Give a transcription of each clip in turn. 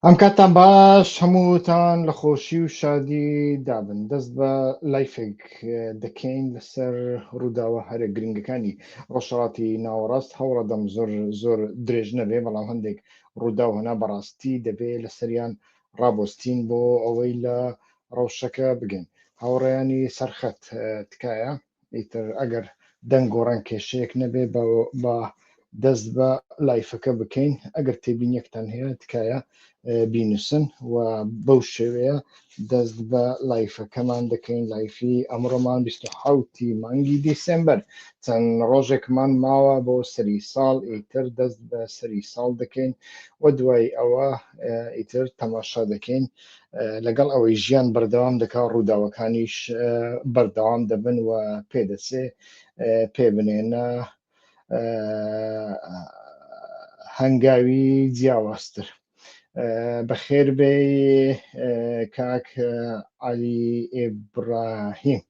ئەم کاتتان باش هەمووتان لە خۆشی و شادی دابن دەست بە لایفێک دەکەین لەسەر ڕووداوە هەرە گرنگەکانی ڕۆژهڵاتی ناوەڕاست هەوڵەدەم زۆر زۆر درێژ نەبێ بەڵام هەندێک ڕووداو هەنا بەڕاستی دەبێ لەسەریان ڕابۆستین بۆ ئەوەی لە ڕەوشەکە بگەین هاوڕێیانی سەرخەت تکایە ئیتر ئەگەر دەنگ و ڕەنگ کێشەیەک نەبێ بە دەست بە لایفەکە بکەین ئەگەر تێبینیەکتان هەیە تکایە بینوسن و بەو شێوەیە دەست بە لایفەکەمان دەکەین لایفی ئەمڕۆمان 1970 مانگی دیسمبەر چەند ڕۆژێکمان ماوە بۆ سەری ساڵ ئیتر دەست بە سەری ساڵ دەکەین و دوای ئەوە ئیتر تەماشا دەکەین و لەگەڵ ئەوەی ژیان بەردەوام دەکا ڕووداوەکانیش بەردەوام دەبن و پێدەچێ پێ بنێنە هەنگاوی جیاوازتر بەخێر بێ کاک علی ئێبراهیم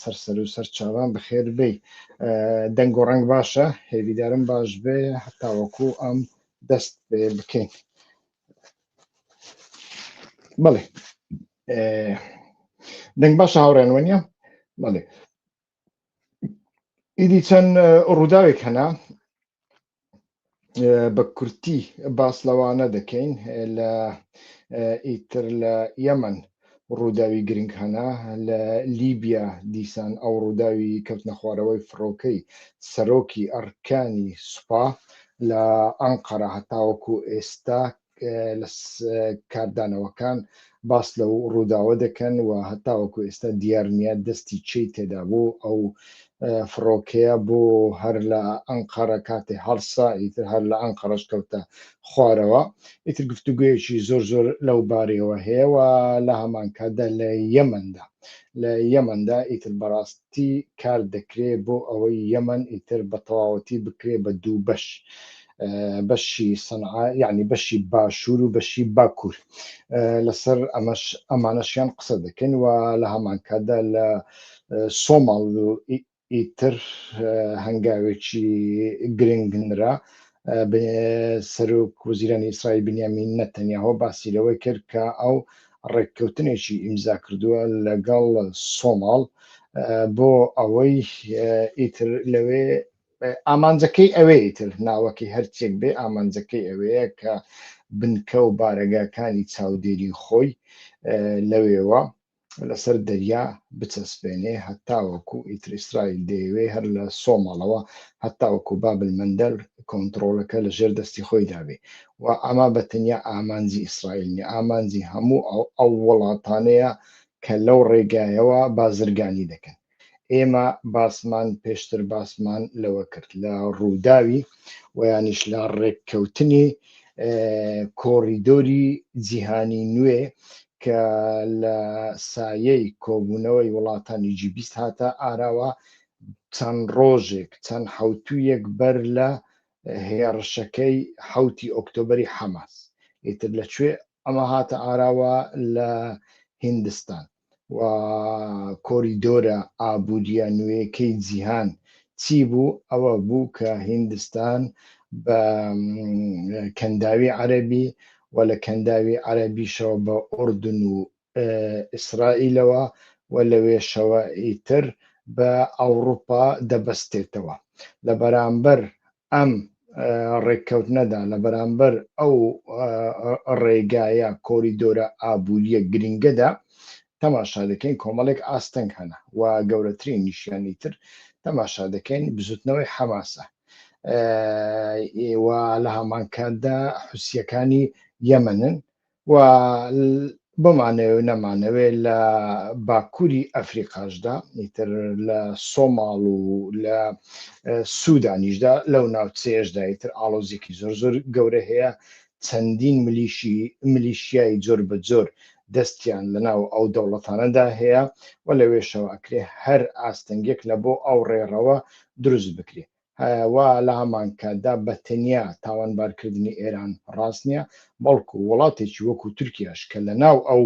سەرسەر و سەر چاوان بەخێر بێ دەنگ و ڕنگ باشە هێویدارم باش بێ هەتاوەکو ئەم دەست بکەین بەڵێ دەنگ باش هاوڕێن وەنیە بەڵێ ئیدی چەند ڕووداوێک هەنا بە کورتی باس لەوانە دەکەین لە ئیتر لە یەمن ڕووداوی گرنگ هەنا لە لیبیا دیسان ئەو ڕووداوی کەوتنە خوارەوەی فڕۆکەی سەرۆکی ئەڕکانی سوپا لە ئەنقەرە هەتاوەکو ئێستا لە کاردانەوەکان باس لەو ڕووداوە دەکەن و هەتاوەکو ئێستا دیار نیە دەستی چی تێدا بوو ئەو فڕۆکەیە بۆ هەر لە ئەنقەرە کاتێ هەڵسا ئیتر هەر لە ئەنقەرەش کەوتە خوارەوە ئیتر گفتوگویەکی زۆر زۆر لەو بارەوە هەیەەوە لە هەمانکاتدا لە یەمەندا لە یەمەندا ئیتر بەڕاستی کار دەکرێت بۆ ئەوەی یەمەن ئیتر بە تەواوەتی بکرێت بە دوو بەش. بەشی سەنعا یعنی بەشی باشوور و بەشی باکوور لەسەر ئەمەش ئەمانەشیان قسە دەکەن و لە هەمانکاتدا لە سۆماڵ و ئیتر هەنگاوێکی گرنگ نرا سەرۆک وزیرانی ئیسرائیل بنیامین نەتەنیاهۆ باسی لەوەی کرد کە ئەو ڕێککەوتنێکی ئیمزا کردووە لەگەڵ سۆماڵ بۆ ئەوەی ئیتر لەوێ ئامانجەکەی ئەوەیە تر ناوەکەی هەرچێک بێ ئامانجەکەی ئەوەیە کە بنکە و بارەگاکانی چاودێری خۆی لەوێوە لەسەر دەریا بچەسپێنێ هەتاوەکو ئیتر ئیسرائیل دەیەوێ هەر لە سۆماڵەوە هەتاوەکو بابل مەندەل کۆنتڕۆڵەکە لە ژێر دەستی خۆی دابێ و ئەمە بە تەنیا ئامانجی ئیسرائیل نیە ئامانجی هەموو ئەو وڵاتانەیە کە لەو ڕێگایەوە بازرگانی دەکەن. ئێمە باسمان پێشتر باسمان لەوە کرد لە ڕووداوی ویانیش لە ڕێککەوتنی کۆڕیدۆری جیهانی نوێ کە لە سایەی کۆبوونەوەی وڵاتانی جیبیست هاتە ئاراوە چەند ڕۆژێک چەند حوتویەک بەر لە هێڕشەکەی حوتی ئۆکتۆبری حەماس ئیتر لەکوێ ئەمە هاتە ئاراوە لە هندستان و کۆریدۆرە ئابوورییە نوێیەکەی جیهان چی بوو؟ ئەوە بوو کە هیندستان بە کەنداوی عەرەبی و لە کەنداوی عەرەبیشەوە بە ئوردن و ئیسرائیلەوە و لەوێشەوە ئیتر بە ئەوروپا دەبەستێتەوە لە بەرامبەر ئەم ڕێککەوتنەدا لە بەرامبەر ئەو ڕێگایە کۆریدۆرە ئابووریە گرنگەدا تەماشا دەکەین کۆمەڵێک ئاستەنگ هەنە و گەورەترین نیشیانی تر تەماشا دەکەین بزوتنەوەی حەماسە و لە هەمانکاتدا حوسیەکانی یەمەنن و بمانەوێ و نەمانەوێ لە باکووری ئەفریقاشدا ئیتر لە سۆماڵ و لە سوودانیشدا لەو ناوچەیەشدا ئیتر ئاڵۆزیکی زۆر زۆر گەورە هەیە چەندین ملیشی ملیشیای جۆر بە جۆر دەستیان لەناو ئەو دەوڵەتانەدا هەیە و لەوێشەوە ئەکرێ هەر ئاستەنگێک لە بۆ ئەو ڕێڕەوە دروست بکرێت و لە هەمان کاتدا بە تەنیا تاوانبارکردنی ئێران ڕاست نییە، بەڵکو وڵاتێکی وەکو تورکیاش کە لە ناو ئەو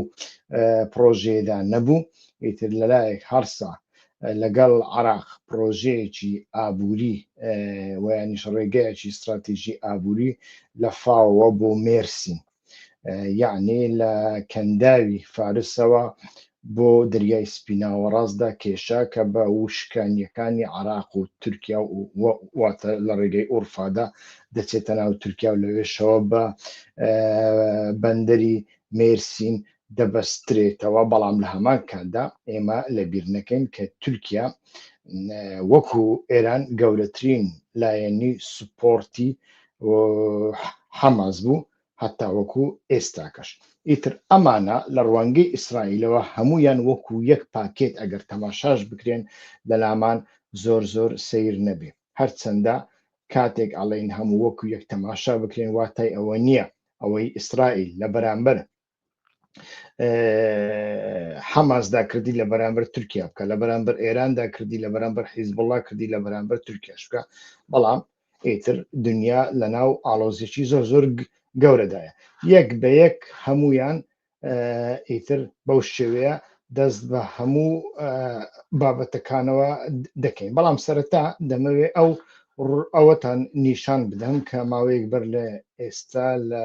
پڕۆژەیەدا نەبوو، ئیتر لە لایەک هەڕسا لەگەڵ عێراق پڕۆژەیەکی ئابووری و یانیش ڕێگەیەکی ستراتیژی ئابووری لە فاوەوە بۆ مێرسین. یعنی لە کەنداوی فارسەوە بۆ دەریای سپیناوەڕاستدا کێشا کە بە وشکانیەکانی عراق و تورکیا و واتە لە ڕێگەی ئورفادا دەچێتە ناو تورکیا و لەوێشەوە بە بەندەری مێرسین دەبەسترێتەوە، بەڵام لە هەمان کاتدا ئێمە لەبیر نەکەین کە تورکیا وەکو ئێران گەورەترین لایەنی سوپۆڕتی حەماس بوو هەتاوەکو ئێستاکەش. ئیتر ئەمانە لە ڕوانگەی ئیسرائیلەوە هەموویان وەکو یەک پاکێت ئەگەر تەماشاش بکرێن لەلامان زۆر زۆر سەیر نەبێ. هەرچەندە کاتێک ئەڵێین هەموو وەکو یەک تەماشا بکرێن واتای ئەوە نییە ئەوەی ئیسرائیل لە بەرامبەر حەماسدا کردی لە بەرامبەر تورکیا بکە لە بەرامبەر ئێراندا کردی لە بەرامبەر حیزبڵا کردی لە بەرامبەر تورکیاش بکە بەڵام ئیتر دنیا لە ناو ئاڵۆزیی زۆر زۆر گەورەدایە یەک بە یەک هەمویان ئیتر بەو شێوەیە دەست بە هەموو بابەتەکانەوە دەکەین بەڵام سەرەتا دەمەوێت ئەو ئەوەتان نیشان بدەم کە ماوەیەک بەر لە ئێستا لە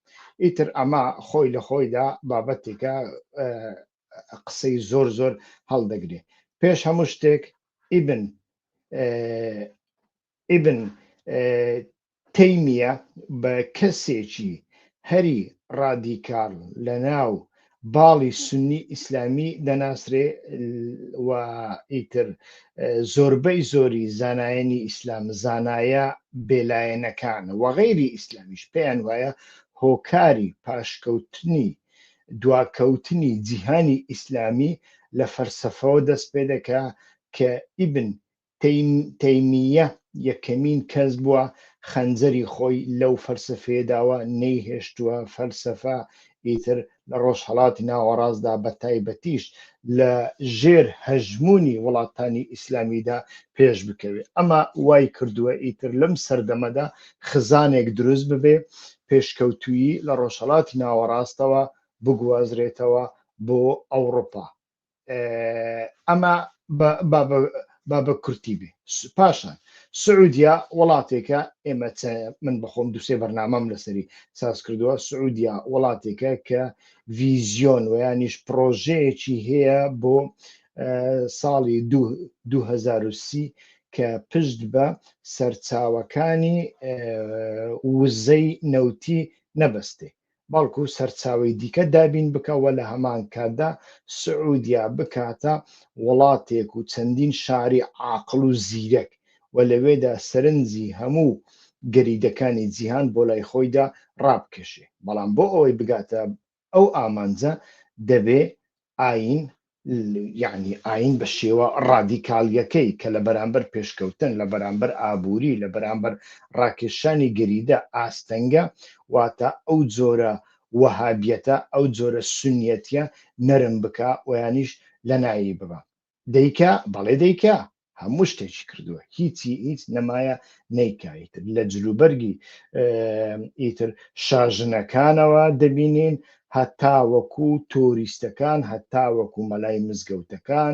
ئیتر ئەمە خۆی لە خۆیدا بابەتێکە قسەی زۆر زۆر هەڵدەگرێ پێش هەموو شتێک ئیبن ئیبن تەیمیە بە کەسێکی هەری ڕادیکال لە ناو باڵی سوننی ئیسلامی دەناسرێ و ئیتر زۆربەی زۆری زانایانی ئیسلام زانایە بێلایەنەکان وەغیری ئیسلامیش پێیان وایە هۆکاری پاشکەوتنی دواکەوتنی جیهانی ئیسلامی لە فەرسەفەوە دەست پێ دەکا کە ئیبن تەیمییە یەکەمین کەس بووە خەنجەری خۆی لەو فەلسەفەیە داوە، نەیهێشتووە فەلسەفە ئیتر لە ڕۆژهەڵاتی ناوەڕاستدا بە تایبەتیش لە ژێر هەژموونی وڵاتانی ئیسلامیدا پێش بکەوێت ئەمە وای کردووە ئیتر لەم سەردەمەدا خزانێک دروست ببێ پێشکەوتویی لە ڕۆژهەڵاتی ناوەڕاستەوە بگوازرێتەوە بۆ ئەوروپا ئەمە با بە کورتی بێ پاشان سعودیا وڵاتێکە ئێمە من بەخۆم دوسێ بەرنامەم لەسەری ساز کردووە سعودیا وڵاتێکە کە ڤیزیۆن و ینیش پرۆژەیەکی هەیە بۆ ساڵی 2030 کە پشت بە سەرچاوەکانی وزەی نەوتی نەبەستێ بەڵکو سەرچاوەی دیکە دابین بکە و لە هەمان کاتدا سعودیە بکاتە وڵاتێک و چەندین شاری عاقڵ و زیرەک و لەوێدا سەرنجی هەموو گەریدەکانی جیهان بۆ لای خۆیدا ڕابکێشێ، بەڵام بۆ ئەوەی بگاتە ئەو ئامانجە دەبێ ئایین، یەعنی ئایین بە شێوە ڕادیکاڵییەکەی کە لە بەرامبەر پێشکەوتن، لە بەرامبەر ئابووری، لە بەرامبەر ڕاکێشانی گەریدە ئاستەنگە، واتە ئەو جۆرە وەهابیەتە، ئەو جۆرە سوننیەتیە نەرم بکا و یانیش لەناێی ببا. دەیکا بەڵێ دەیکا هەموو شتێکی کردووە هیچی هیچ نەمایە نەیکایتر لە جلوبەرگی ئیتر شاژنەکانەوە دەبینین هەتا وەکو تۆریستەکان هەتا وەکو مەلای مزگەوتەکان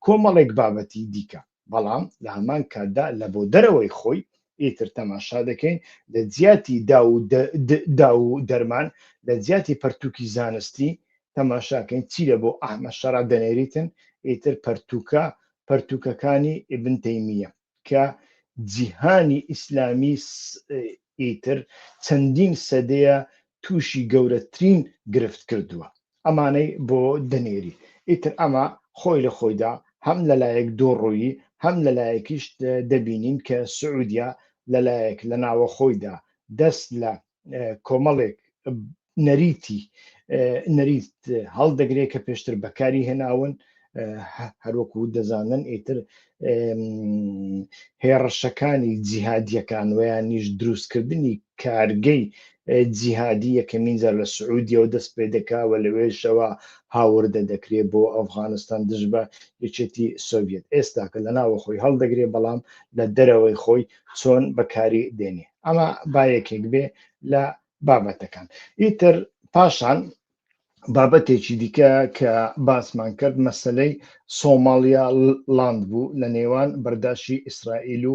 کۆمەڵێک بابەتی دیکە بەڵام لە هەمان کاتدا لە بۆ دەرەوەی خۆی ئیتر تەماشا دەکەین لە جیاتی دا و دەرمان لە جیاتی پەرتووکی زانستی تەماشاکەین چی لە بۆ ئەحمە شەرع دەنێریتن ئیتر پەرتووکە پەرتووکەکانی ئبن تەیمیە کە جیهانی ئیسلامی ئیتر چەندین سەدەیە توشی گەورەترین گرفت کردووە ئەمانەی بۆ دەنێری ئیتر ئەمە خۆی لە خۆیدا هەم لەلایەک دووڕوویی هەم لەلایەکیش دەبینین کە سعودیە لەلایەک لە ناوەخۆیدا دەست لە کۆمەڵێک نەریتی نەریت هەڵدەگرێت کە پێشتر بەکاری هێناون هەروەکو دەزانن ئیتر هێڕشەکانی جیهادیەکان ویانیش دروستکردنی کارگەی جیهادی یەکەمین جار لە سعودیەوە دەست پێ دەکاوە لەوێشەوە هاوردە دەکرێت بۆ ئەفغانستان دژ بە یەکێتی سۆڤێت ئێستاکە لە ناوە خۆی هەڵدەگرێ بەڵام لە دەرەوەی خۆی چۆن بەکاری دێنێ ئەمە با یەکێک بێ لە بابەتەکان ئیتر پاشان بابەتێکی دیکە کە باسمان کرد مەسلەی سۆماڵیا لاند بوو لە نێوان بەرداشی ئیسرائیل و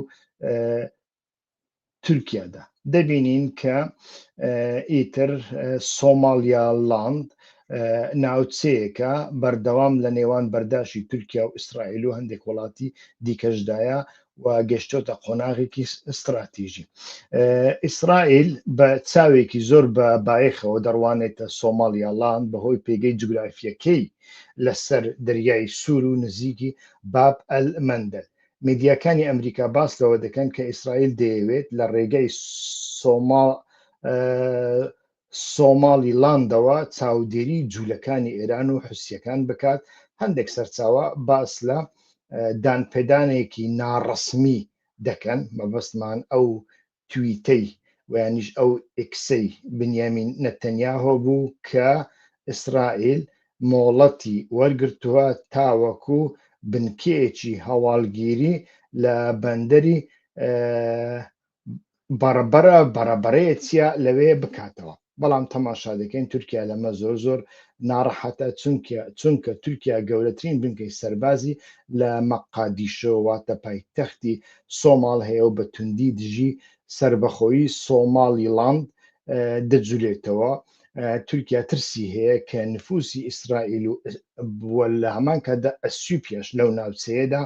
تورکیادا دەبینین کە ئیتر سۆماڵیا لاند ناوچەیەکە بەردەوام لە نێوان بەرداشی تورکیا و ئیسرائیل و هەندێک وڵاتی دیکەشدایە و گەشتۆتە قۆناغێکی ستراتیژی ئیسرائیل بە چاوێکی زۆر بە بایەخەوە دەڕوانێتە سۆماڵیاڵان بەهۆی پێگەی جوگرافیەکەی لەسەر دەریای سوور و نزیکی باب ئەل مندل میدیاکانی ئەمریکا باس لەوە دەکەن کە ئیسرائیل دەیەوێت لە ڕێگەی سۆما سۆماڵی لاندەوە چاودێری جولەکانی ئێران و حوسیەکان بکات، هەندێک سەرچاوە باس لە دانپێدانێکی ناڕەسمی دەکەن، مەبەستمان ئەو تویتەی وەیانیش ئەو ئیکسەی بنیامین نەتەنیاهۆ بوو کە ئیسرائیل مۆڵەتی وەرگرتووە تاوەکو بنکەیەکی هەواڵگیری لە بەندەری بەڕبەرە بەڕەبەرەیە چیا لەوێ بکاتەوە بەڵام تەماشا دەکەین تورکیا لەمە زۆر زۆر ناڕەحەتە چونکە چونکە تورکیا گەورەترین بنکەی سەربازی لە مەقادیشۆ واتە پایتەختی سۆماڵ هەیە و بە توندی دژی سربەخۆیی سۆماڵیڵاند دەجولێتەوە و تورکیا ترسی هەیە کە نفوسی ئیسرائیل و بووە لە هەمان کاتدا ئەسیوپیاش لەو ناوچەیەدا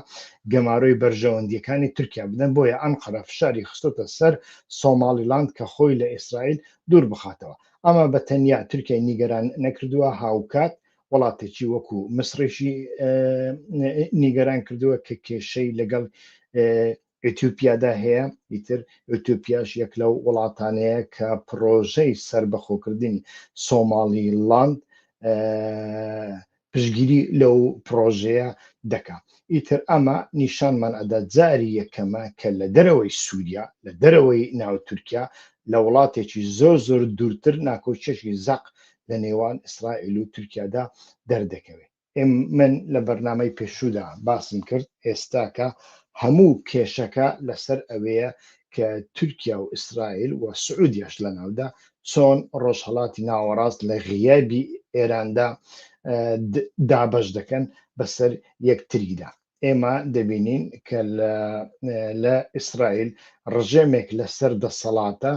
گەمارۆی بەرژەوەندیەکانی تورکیا بدەن بۆیە ئەم قەرە فشاری خستۆتە سەر سۆمالیلاند کە خۆی لە ئیسرائیل دوور بخاتەوە ئەمە بە تەنیا تورکیای نیگەران نەکردووە هاوکات وڵاتێکی وەکو مسرێکی نیگەران کردووە کە کێشەی لەگەڵ ئیتیوپیادا هەیە، ئیتر ئیتیوپیاش یەک لەو وڵاتانەیە کە پڕۆژەی سەربەخۆکردنی سۆماڵی ڵاند پشگیری لەو پڕۆژەیە دەکا ئیتر ئەمە نیشانمان ئەدا جاری یەکەمە کە لە دەرەوەی سووریا لە دەرەوەی ناو تورکیا لە وڵاتێکی زۆر زۆر دوورتر ناکۆکیەکی زەق لە نێوان ئیسرائیل و تورکیادا دەردەکەوێت من لە بەرنامەی پێشوودا باسم کرد، ئێستاکە هەموو کێشەکە لەسەر ئەوەیە کە تورکیا و ئیسرائیل و سعودیەش لەناودا چۆن ڕۆژهەڵاتی ناوەڕاست لە غیابی ئێراندا دابەش دەکەن بەسەر یەکتریدا. ئێمە دەبینین کە لە ئیسرائیل ڕژێمێک لەسەر دەسەڵاتە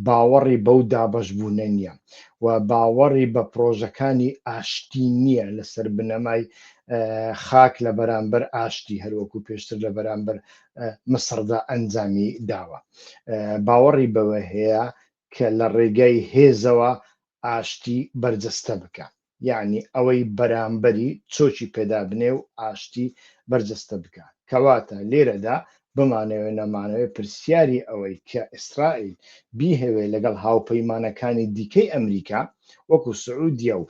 باوەڕی بەو دابش بوونە نییە و باوەڕی بە پرۆژەکانی ئاشتی نییە لەسەر بنەمای خاک لە بەرامبەر ئاشتی هەروەکو پێشتر لە بەرامبەر مسردا ئەنجامی داوە باوەڕی بەوە هەیە کە لە ڕێگای هێزەوە ئاشتی بەرجەستە بکە یەعنی ئەوەی بەرامبەری چۆکی پێدابنێ و ئاشتی بەرجەستە بکا. کەواتە لێرەدا بمانەوێ نەمانەوێ پرسیاری ئەوەی کە ئیسرائیل بیهەوێ لەگەڵ هاوپەیمانەکانی دیکەی ئەمریکا وەکو سعودیە و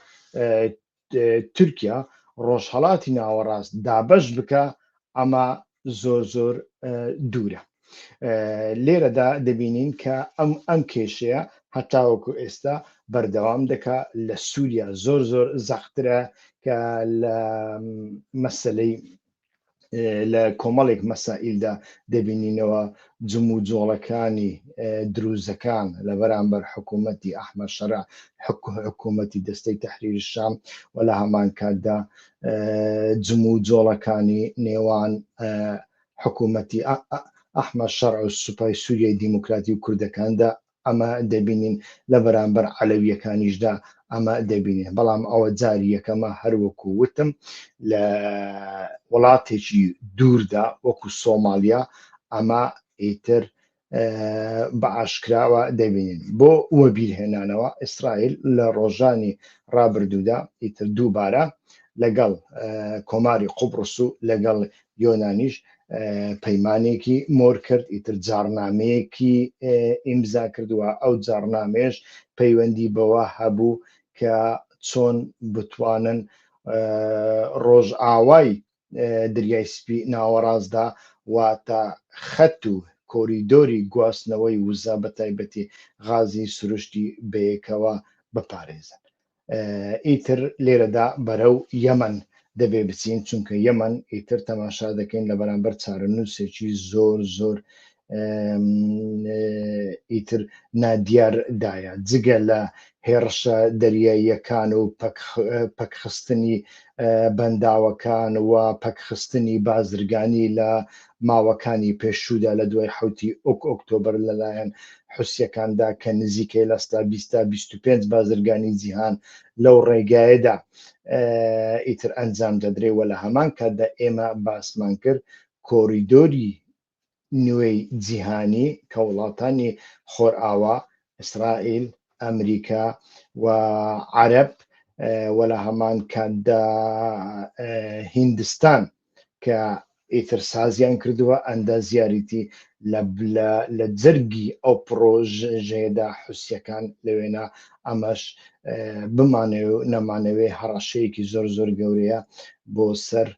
تورکیا ڕۆژهەڵاتی ناوەڕاست دابەش بکا ئەمە زۆر زۆر دوورە لێرەدا دەبینین کە ئەم ئەم کێشەیە هەتاوەکو ئێستا بەردەوام دەکا لە سووریا زۆر زۆر زەخترە کە لە مەسلەی لە کۆمەڵێک مەسائلدا دەبینینەوە جم و جۆڵەکانی دروزەکان لە بەرامبەر حکوومەتتی ئەحمە شەرا حکوومەتتی دەستەی تحریر شام و لە هەمان کاتدا جم و جۆڵەکانی نێوان حکوومەتی ئەحمە شەڕ و سوپای سووریای دیموکراتی و کوردەکاندا ئەمە دەبینین لە بەرامبەر عەلەویەکانیشدا ئەمە دەبینێ بەڵام ئەوە جاری یەکەمە هەروەکو وتم لە وڵاتێکی دووردا وەکو سۆماالیا ئەمە ئیتر بە ئاشکراوە دەبینین بۆ وەبیرهێنانەوە ئیسرائیل لە ڕۆژانی ڕابردوودا ئیتر دووبارە لەگەڵ کۆماری قوبڕس و لەگەڵ یۆنانیش پەیمانێکی مۆر کرد ئیتر جارنامەیەکی ئیمزا کردووە ئەو جارنامێش پەیوەندی بەوە هەبوو کە چۆن بتوانن ڕۆژئاوای دەریای سپی ناوەڕاستدا واتە خەت و کۆریدۆری گواستنەوەی وزە بە تایبەتی غازی سروشتی بەیەکەوە بپارێزن ئیتر لێرەدا بەرەو یەمەن دەبێ بچین چونکە یەمەن ئیتر تەماشا دەکەین لە بەرامبەر چارەنووسێکی زۆر زۆر ئیتر نادیار دایە جگە لە هێڕشە دەریاییەکان و پەکخستنی بەنداوەکان و پەکخستنی بازرگانی لە ماوەکانی پێشوودا لە دوای حوتی ئۆک ئۆکتۆبر لەلایەن حوسەکاندا کە نزیکەی لەستا 25 بازرگانی جیهان لەو ڕێگایەدا ئیتر ئەنجام دەدرێ و لە هەمان کاتدا ئێمە باسمان کرد کۆریدۆری نوێی جیهانی کە وڵاتانی خۆرئاوا، ئیسرائیل، ئەمریکا و عەرەب و لە هەمان کاتدا هیندستان کە ئیتر سازیان کردووە ئەندازیاریی لە جەرگی ئەو پڕۆژەیەدا حوسییەکان لەوێنا ئەمەش بمانەوێ و نەمانەوێ هەڕەشەیەکی زۆر زۆر گەورەیە بۆ سەر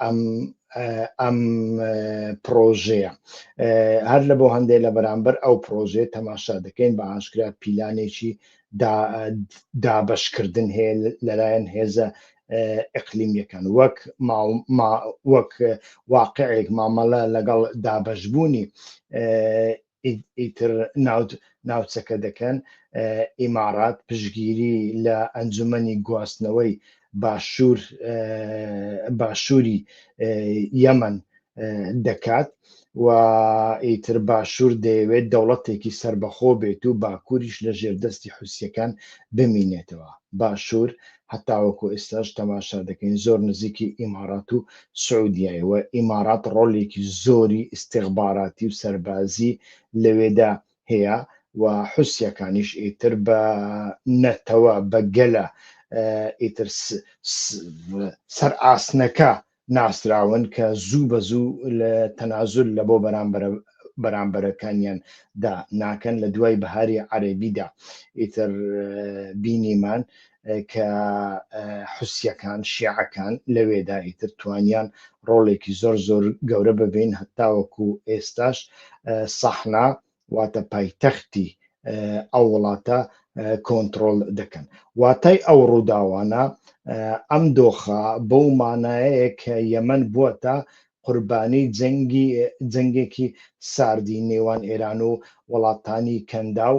ئەم ئەم پرۆژەیە هەر لە بۆ هەندێک لە بەرامبەر ئەو پرۆژێ تەماشا دەکەین بە ئاشکرا پیلانێکی دابشکردن هەیە لەلایەن هێزە ئەقلیمیەکان وەک وەک واقعێک مامەڵە لەگەڵ دابشبوونی ئیتر ناوچەکە دەکەن، ئیمارات پشگیری لە ئەنجومەنی گواستنەوەی باشووری یەمەن دەکات و ئیتر باشوور دەیەوێت دەوڵەتێکی سەربەخۆ بێت و باکووریش لە ژێردەستی حوسیەکان بمینێتەوە، باشوور هەتاوەکو ئێستاش تەماشا دەکەین زۆر نزیکی ئیمارات و سعودیای و ئیمارات ڕۆلێکی زۆری ئیستیخباراتی و سەربازی لەوێدا هەیە و حوسیەکانیش ئیتر بە نەتەوە بە گەلە ئیتر سەر ئاسنەکە ناسراون کە زوو بە زوو لە تەنازول لە بۆ بەرامبەرە بەرامبەرەکانیان دا ناکەن لە دوای بەهاری عەرەبیدا ئیتر بینیمان کە حوسیەکان شیعەکان لەوێدا ئیتر توانیان ڕۆڵێکی زۆر زۆر گەورە ببین هەتاوەکو ئێستاش سەحنا واتە پایتەختی ئەو وڵاتە کۆنترۆل دەکەن واتای ئەو ڕووداوانە ئەم دۆخە بەو مانایەیە کە یەمەن بووەتە قوربانی جەنگی جەنگێکی ساردی نێوان ئێران و وڵاتانی کەنداو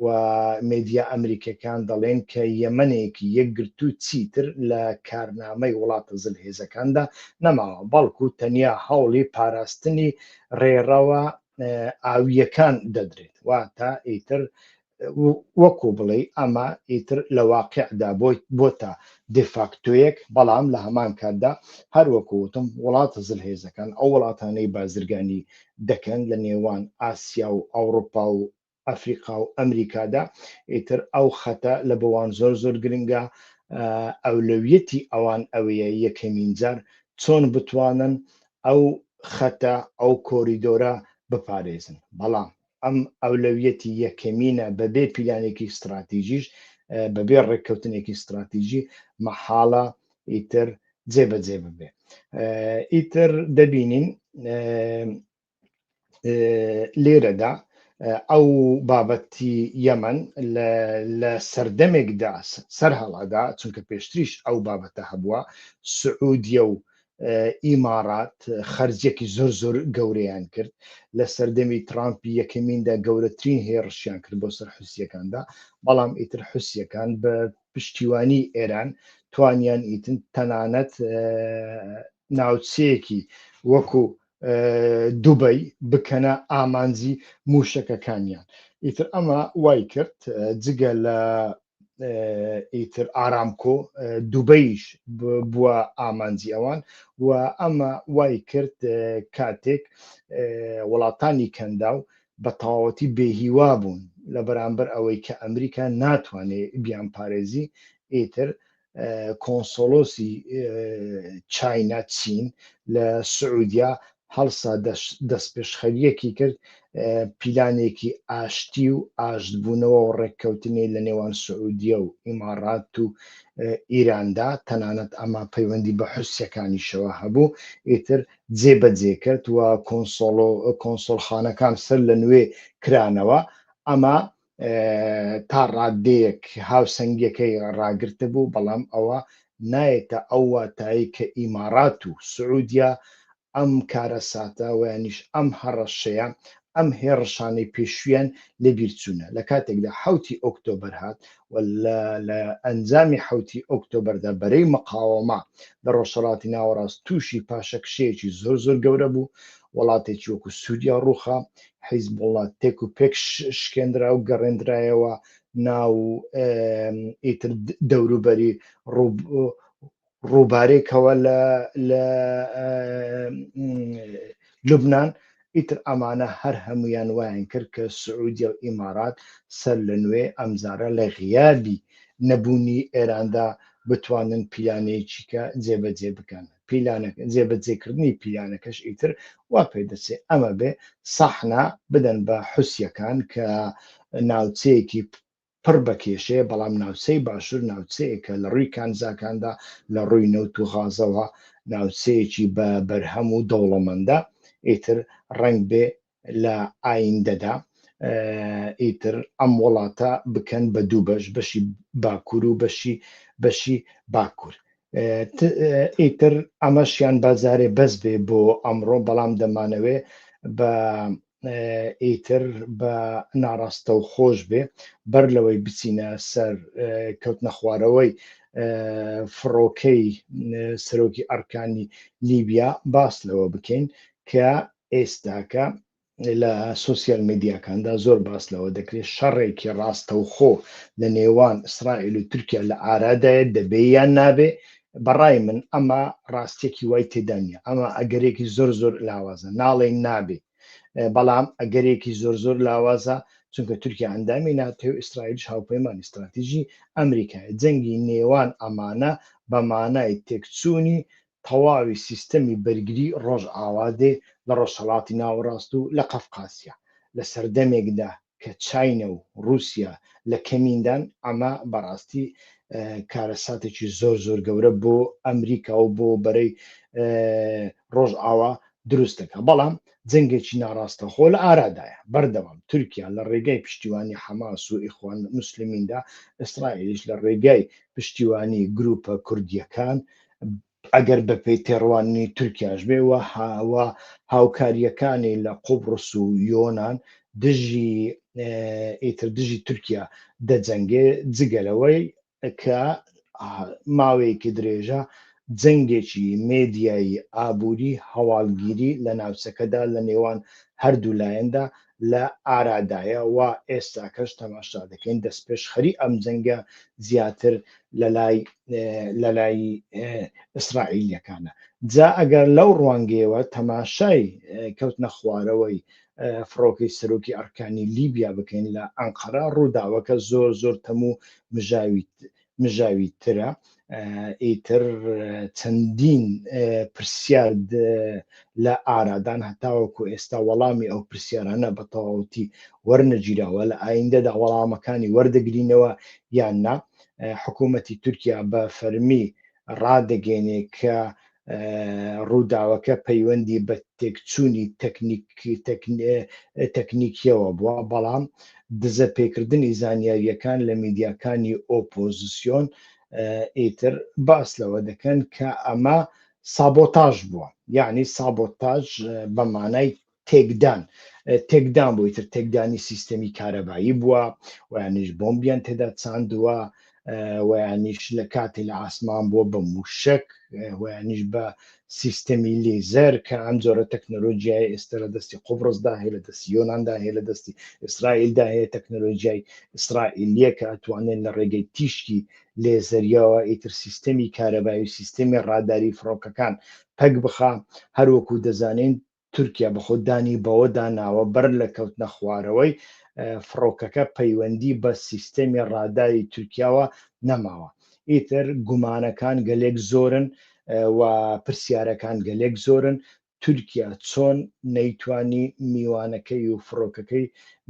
و مێدیا ئەمریکەکان دەڵێن کە یەمەنێکی یەکگرتو چیتر لە کارنامەی وڵاتە زلهێزەکاندا نەماوە بەڵکو تەنیا هەوڵی پاراستنی ڕێڕەوە ئاوییەکان دەدرێت واتە ئیتر وەکو بڵێ ئەمە ئیتر لە واقعدا بۆی بۆتە دفاکتوەک بەڵام لە هەمان کاتدا هەر وەکوتم وڵاتە زل هێزەکان ئەو وڵاتانەی بازرگانی دەکەن لە نێوان ئاسیا و ئەوروپا و ئەفریقا و ئەمریکادا ئیتر ئەو خەتە لە بۆوان زۆر زۆر گرنگە ئەولەویەتی ئەوان ئەوەیە یەکەمین جار چۆن بتوانن ئەو خەتە ئەو کۆریدۆرە بپارێزن بەڵام ئەم ئەولەویەتی یەکەمینە بەبێ پیلانێکی ستراتیژیش بەبێ ڕێککەوتنێکی ستراتیژی مەحاڵە ئیتر جێبەجێ ببێ ئیتر دەبینین لێرەدا ئەو بابەتی یەمەن لە سەردەمێکدا سەر هەڵادا چونکە پێشتریش ئەو بابەتە هەبووە سعودیە و ئیمارات خەرجێکی زۆر زۆر گەورەیان کرد لە سەردەمی ترامپی یەکەمیندا گەورەترین هێڕشیان کرد بۆ سەر حوسیەکاندا بەڵام ئیتر حوسیەکان بە پشتیوانی ئێران توانیان ئیتن تەنانەت ناوچەیەکی وەکو دوبەی بکەنە ئامانجی موشەکەکانیان ئیتر ئەمە وای کرد جگە لە ئیتر ئارامکۆ دوبەیش بووە ئامانجی ئەوان و ئەمە وای کرد کاتێک وڵاتانی کەندا و بە تەواوەتی بێهیوا بوون لە بەرامبەر ئەوەی کە ئەمریکا ناتوانێت بیان پارێزی ئیتر کۆنسۆلۆسی چاینا چین لە سعودیا هەڵسا دەستپێشخەریەکی کرد پیلانێکی ئاشتی و ئاشتبوونەوە و ڕێککەوتنی لە نێوان سعودیە و ئیماڕات و ئیراندا تەنانەت ئەمە پەیوەندی بە حوسەکانیشەوە هەبوو ئیتر جێبەجێ کرد و کۆنسۆڵ کۆنسۆلخانەکان سەر لە نوێ کرانەوە ئەمە تا ڕادەیەک هاوسەنگیەکەی ڕاگرتە بوو بەڵام ئەوە نایێتە ئەو واتایی کە ئیمارات و سعودیا ئەم کارە ساتە ویانیش ئەم هەڕەشەیە ئەم هێڕشانەی پێشویان لە بیرچوونە لە کاتێکدا حوتی ئۆکتۆبەر هات و لە ئەنجامی حوتی ئۆکتۆبەردا بەرەی مقاوەما لە ڕۆژهڵاتی ناوەڕاست تووشی پاشەکشەیەکی زۆر زۆر گەورە بوو وڵاتێکی وەکو سووریا ڕوخا حیزبوڵڵا تێک و پێک شکێنرا و گەڕێندرایەوە ناو ئیتر دەوروبەری ڕووبارێکەوە لە لە لوبناان ئیتر ئەمانە هەر هەمویان وایان کرد کە سعودیە و ئیمارات سەر لە نوێ ئەمجارە لە غیابی نەبوونی ئێراندا بتوانن پیلانێکیکە جێبەجێ بکەنن پیلانەکە جێبەجێ کردنی پیلانەکەش ئیتر وا پێ دەچێ ئەمە بێ سەحنا بدەن بە حوسیەکان کە ناوچەیەکی پڕ بە کێشەیە بەڵام ناوچەی باشوور ناوچەیەکە لە ڕووی کانزاکاندا لە ڕووی نەوت و غازەوە ناوچەیەکی بە بەرهەم و دەوڵەمەندە ئیتر ڕنگ بێ لە ئایندەدا ئیتر ئەم وڵاتە بکەن بە دوو بەش بەشی باکوور و بەشی بەشی باکوور ئیتر ئەمەشیان بازارێ بەس بێ بۆ ئەمڕۆ بەڵام دەمانەوێ بە ئیتر بە ناڕاستە و خۆش بێ بەر لەوەی بچینە سەر کەوت نەخوارەوەی فڕۆکەی سەرۆکی ئەرکانی لیبیا باس لەوە بکەین کە ئێستاکە لە سوسیال میدیاکاندا زۆر باس لەوە دەکرێت شەڕێکی ڕاستەوخۆ لە نێوان ئیسرائیل و تورکیا لە ئارادایە دەبێ یان نابێ بەڕای من ئەمە ڕاستێکی وای تێدانە ئەمە ئەگەرێکی زۆر زۆر لاوازە ناڵێن نابێ بەڵام ئەگەرێکی زۆر زۆر لاوازە چونکە تورکیا ئەندامی ناتێ و ئیسرائیل هاوپەیمان استراتیژی ئەمریکای جەنگی نێوان ئەمانە بە مانای تێکچوونی تەواوی سیستەمی بەرگری ڕۆژئاوا دێ لە ڕۆژهەڵاتی ناوەڕاست و لە قەفقاسیا، لە سەردەمێکدا کە چاینە و ڕووسیا لە کەمیندان، ئەمە بەڕاستی کارەساتێکی زۆر زۆر گەورە بۆ ئەمریکا و بۆ بەرەی ڕۆژئاوا دروست دەکات، بەڵام جەنگێکی ناڕاستەخۆ لە ئارادایە، بەردەوام تورکیا لە ڕێگای پشتیوانی حەماس و ئیخوان موسلمیندا، ئیسرائیلیش لە ڕێگای پشتیوانی گرووپە کوردییەکان ئەگەر بەپێی تێڕوانینی تورکیاش بێ و هاوا هاوکاریەکانی لە قوبڕس و یۆناان دژی ئیتر دژی تورکیا دەجەنگێ جگەلەوەی کە ماوەیەکی درێژە جەنگێکی مێدیایی ئابووری هەواڵگیری لە ناوچەکەدا لە نێوان هەردوو لایەندا لە ئارادایە و ئێستاکەش تەماشا دەکەین دەستپێشخەری ئەم جەنگە زیاتر لەلای لەلای ئیسرائیلیەکانە جا ئەگەر لەو ڕوانگەیەوە تەماشای کەوتنە خوارەوەی فڕۆکەی سەرۆکی ئەرکانی لیبیا بکەین لە ئەنقەرە ڕووداوەکە زۆر زۆر تەموو مژاویت مژاوی ترە ئیتر چەندین پرسیار لە ئارادان هەتاوەکو ئێستا وەڵامی ئەو پرسیارانە بە تەواوەتی وەرنەگیراوە لە ئایندەدا وەڵامەکانی وەردەگرینەوە یان نا حکوومەتی تورکیا بە فەرمی ڕادەگەێنێ کە ڕووداوەکە پەیوەندی بە تێکچوونی تەکنیکیەوە بووە بەڵام دزە پێکردنی زانیاریەکان لە میدیاکانی ئۆپۆزیسیۆن ئیتر باس لەوە دەکەن کە ئەمە سابۆتاژ بووە یعنی سابۆتاژ بە مانای تێکدان تێکدان بووی تر تێکدانی سیستەمی کارەبایی بووە ویانیش بۆمبیان تێدا چاندووە ویانیش لە کاتی لە ئاسمان بووە بە موشک ویانیش بە سیستەمی لیزەر کە ئەم جۆرە تەکنەلۆژیای ئێستا لە دەستی قوبڕستدا هەیە لە دەستی یۆنااندا هەیە لە دەستی ئیسرائیلدا هەیە تەکنەلۆژیای ئیسرائیلیە کە ئەتوانێت لە ڕێگەی تیشکی لێزەریەوە ئیتر سیستەمی کارەبایی و سیستەمی ڕاداری فڕۆکەکان پەک بخە هەروەکو دەزانین تورکیا بەخۆ دانی بەوەدا ناوە بەر لە کەوتنە خوارەوەی فڕۆکەکە پەیوەندی بە سیستەمی ڕاداری تورکیاوە نەماوە ئیتر گومانەکان گەلێک زۆرن و پرسیارەکان گەلێک زۆرن تورکیا چۆن نەیتوانی میوانەکەی و فڕۆکەکەی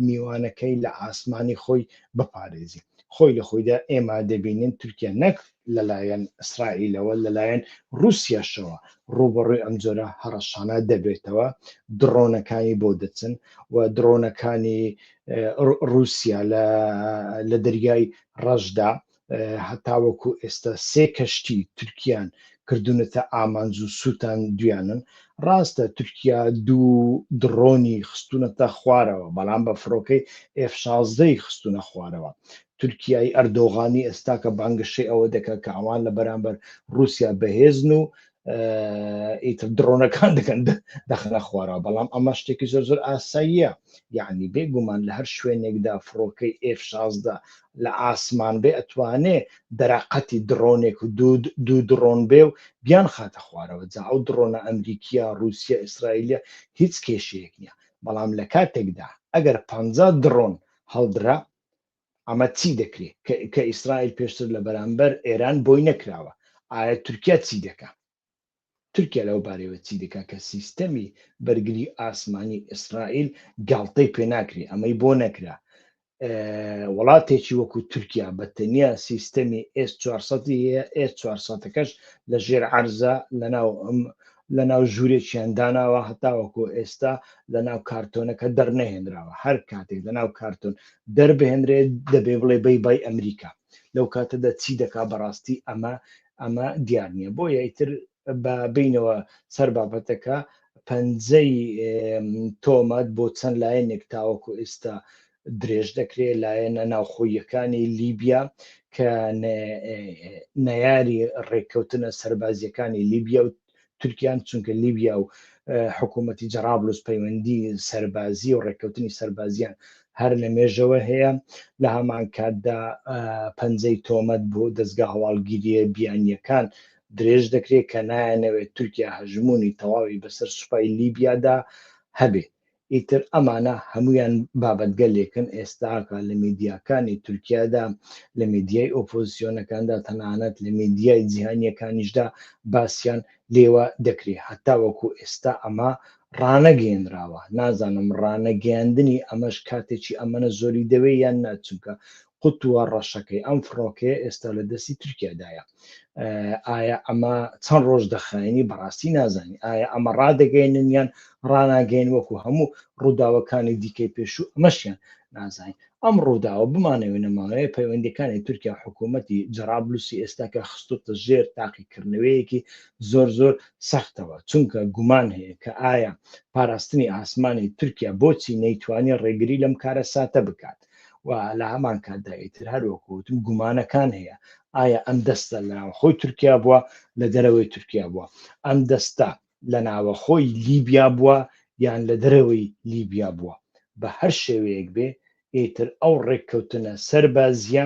میوانەکەی لە ئاسمانی خۆی بپارێزی خۆی لە خۆیدا ئێمە دەبینین تورکیا نەک لەلایەن ئیسرائیلەوە لەلایەن ڕووسیاشەوە ڕووبەڕووی ئەم جۆرە هەڕەشانە دەبێتەوە دڕۆنەکانی بۆ دەچن و دڕۆنەکانی ڕووسیا لە دەریای ڕەشدا هەتاوەکو ئێستا سێ کەشتی تورکیان کردونەتە ئامانج و سووتان دویانن ڕاستە تورکیا دوو دڕۆنی خستونەتە خوارەوە بەڵام بە فڕۆکەی F16ی خستونە خوارەوە تورکیای ئەردۆغانی ئێستاکە بانگەشەی ئەوە دەکات کە ئەوان لە بەرامبەر رووسیا بەهێزن و ئیتر دڕۆنەکان دەکەن دەخەنە خوارا بەڵام ئەمە شتێکی زۆر زۆر ئاساییە یعنی بێگومان لە هەر شوێنێکدا فڕۆکەی ئف شازدە لە ئاسمان بێ ئەتوانێ دەراقەتی دڕۆنێک و دوود دوو دڕۆن بێ و بیان خاتە خوارەوە جا ئەو دڕۆنە ئەمریکیە رووسیا ئیسرائیلە هیچ کێشەیەک نییە بەڵام لە کاتێکدا ئەگەر پ دڕۆن هەڵدرا ئەمە چی دەکرێت کە ئیسرائیل پێشتر لە بەرامبەر ئێران بۆی نەکراوە ئایا تورکیا چی دەکا تورکیا لەو بارەوە چی دەکا کە سیستەمی بەرگری ئاسمانی ئیسرائیل گاڵتەی پێ ناکرێ ئەمەی بۆ نەکرا وڵاتێکی وەکو تورکیا بە تەنیا سیستەمی ئێس 400 ئێس 400ەکەش لە ژێر عرزە لەناو ئەم لەناو ژوورێکیان داناوە هەتاوەکۆ ئێستا لەناو کارتۆنەکە دەرنەهێنراوە هەر کاتێک لەناو کارتۆن دەربهێنرێت دەبێ بڵێ بەی بای ئەمریکا لەو کاتەدا چی دەکا بەڕاستی ئەمە ئەمە دیار نییە بۆ یایتر بە بینەوە سەر بابەتەکە پەنجەی تۆمەت بۆ چەند لایەنێک تاوەکو ئێستا درێژ دەکرێ لایەنە ناوخۆییەکانی لیبیا کە نەیاری ڕێککەوتنە سەربازیەکانی لیبیا و تورکیان چونکە لیبیا و حکوومەتی جەرابلوس پەیوەندی سەربازی و ڕێککەوتنی سەربازیان هەر لە مێژەوە هەیە لە هەمان کاتدا پەنجەی تۆمەت بۆ دەستگا هەواڵگیریە بیانیەکان درێژ دەکرێت کە نایەنەوێت تورکیا هەژمونی تەواوی بەسەر سوپای لیبیادا هەبێت ئیتر ئەمانە هەموویان بابەتگەلێکن ئێستا کە لە میدیاکانی تورکیادا، لە میدیای ئۆپۆزسیۆنەکاندا، تەنانەت لە میدیای جیهانییەکانیشدا باسیان لێوە دەکرێ. هەتاوەکو ئێستا ئەمە ڕانەگەیەنراوە. نازانم ڕانەگەیاندنی ئەمەش کاتێکی ئەمەنە زۆری دەوێ یان نا، چونکە قوتوە ڕەشەکەی ئەم فڕۆکەیە ئێستا لە دەستی تورکیادایە ئایا ئەمە چەند ڕۆژ دەخایێنی بەڕاستی نازانی ئایا ئەمە ڕادەگەێنن یان ڕناگەین وەکو هەموو ڕووداوەکانی دیکەی پێشوو ئەمەشیان نازانین ئەم ڕووداوە بمانەوێ نەماوەیە پەیوەندەکانی تورکیا حکوومەتی جرابلوسی ئێستاکە خستوتە ژێر تاقیکردنەوەیەکی زۆر زۆر سەختەوە چونکە گومان هەیە کە ئایا پاراستنی ئاسمانی تورکیا بۆچی نەیتوانی ڕێگری لەم کارە ساتە بکات و لە هەمان کاتدا ئیتر هەروەکوتم گومانەکان هەیە ئایا ئەم دەستە لە خۆی تورکیا بووە لە دەرەوەی تورکیا بووە ئەم دەستە لە ناوە خۆی لیبیا بووە یان لە دەرەوەی لیبیا بووە بە هەر شێوەیەک بێ ئیتر ئەو ڕێککەوتنە سەربازیە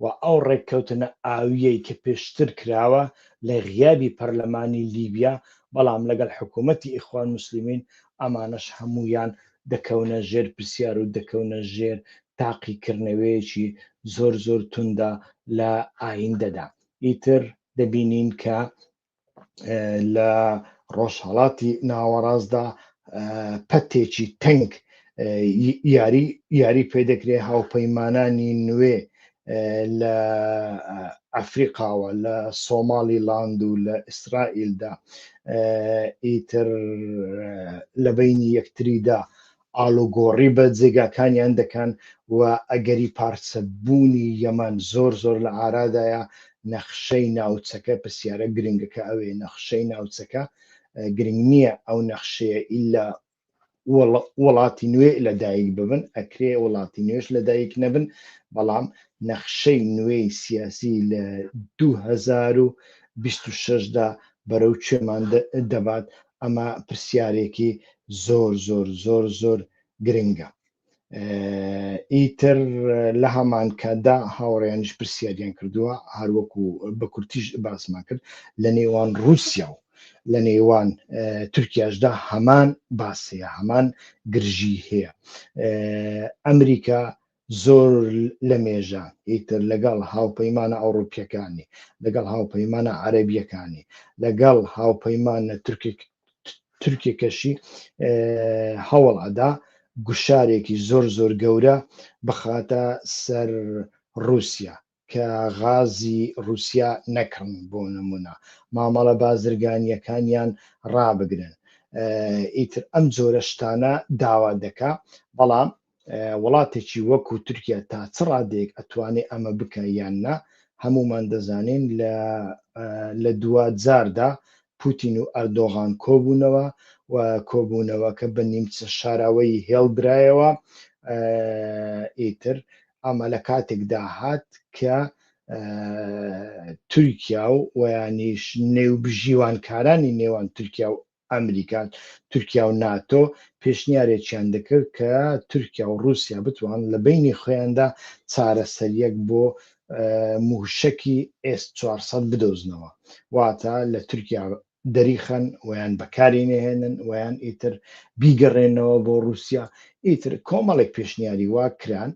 و ئەو ڕێککەوتنە ئاویەی کە پێشتر کراوە لە غیابی پەرلەمانی لیبیا بەڵام لەگەڵ حکوومەتتی ئیخوان مسللیمین ئەمانەش هەمویان دەکەونە ژێر پرسیار و دەکەونە ژێر تاقیکرنەوەیەکی زۆر زۆر توندە لە ئایندەدا ئیتر دەبینین کە لە ڕۆژهڵاتی ناوەڕاستدا پەتێکی تەنگ یاری یاری پێ دەکرێت هاوپەیمانانی نوێ لە ئەفریقاوە لە سۆماڵی لاند و لە ئیسرائیلدا ئیتر لە بینی یەکتریدا ئالوگۆڕی بە جێگاکانیان دەکەن و ئەگەری پارچەبوونی یەمان زۆر زۆر لە ئارادایە نەخشەی ناوچەکە پرسیارە گرنگەکە ئەوێ نەخشەی ناوچەکە گرنگ نییە ئەو نەخشەیە ئللا وڵاتی نوێ لە دایک ببن ئەکرێ وڵاتی نوێش لە دایک نەبن بەڵام نەخشەی نوێی سیاسی لە 2026دا بەرەو کوێمان دەبات ئەمە پرسیارێکی زۆر زۆر زۆر زۆر گرنگە ئیتر لە هەمانکاتدا هاوڕێیانش پرسیاریان کردووە هەروەکو بە کورتیش باسمان کرد لە نێوان رووسیا و لە نێوان تورکیاشدا هەمان باسەیە هەمان گرژی هەیە ئەمریکا زۆر لە مێژە ئیتر لەگەڵ هاوپەیمانە ئەوروپیەکانی لەگەڵ هاوپەیمانە عەربیەکانی لەگەڵ هاوپەیمانە تورکێکەشی هەوڵ ئەدا گوشارێکی زۆر زۆر گەورە بخاتە سەر رووسیا کە غازی رووسیا نەکڕن بۆ نمونە مامەڵە بازرگانیەکانیان ڕابگرن ئیتر ئەم جۆرە شتانە داوا دەکا بەڵام وڵاتێکی وەکو تورکیا تا چ ڕادەیەک ئەتوانێ ئەمە بکە یان نا هەمومان دەزانین لە لە دوا جاردا پوتین و ئەردۆغان کۆبوونەوە و کۆبوونەوەکە بە نیمچە شاراوەی هێڵدرایەوە ئیتر ئەمە لە کاتێکدا هات کە تورکیا و ویانیش نێوبژیوانکارانی نێوان تورکیا و ئەمریکا، تورکیا و ناتۆ پێشنیارێکیان دەکرد کە تورکیا و ڕووسیا بتوان لە بەینی خۆیاندا چارەسەرییەک بۆ مووشەکی ئێس چوار سەد بدۆزنەوە، واتە لە تورکیا دەریخەن و یان بەکاری نەهێنن و یان ئیتر بیگەڕێنەوە بۆ ڕووسیا، ئیتر کۆمەڵێک پێشنیاری وا کران،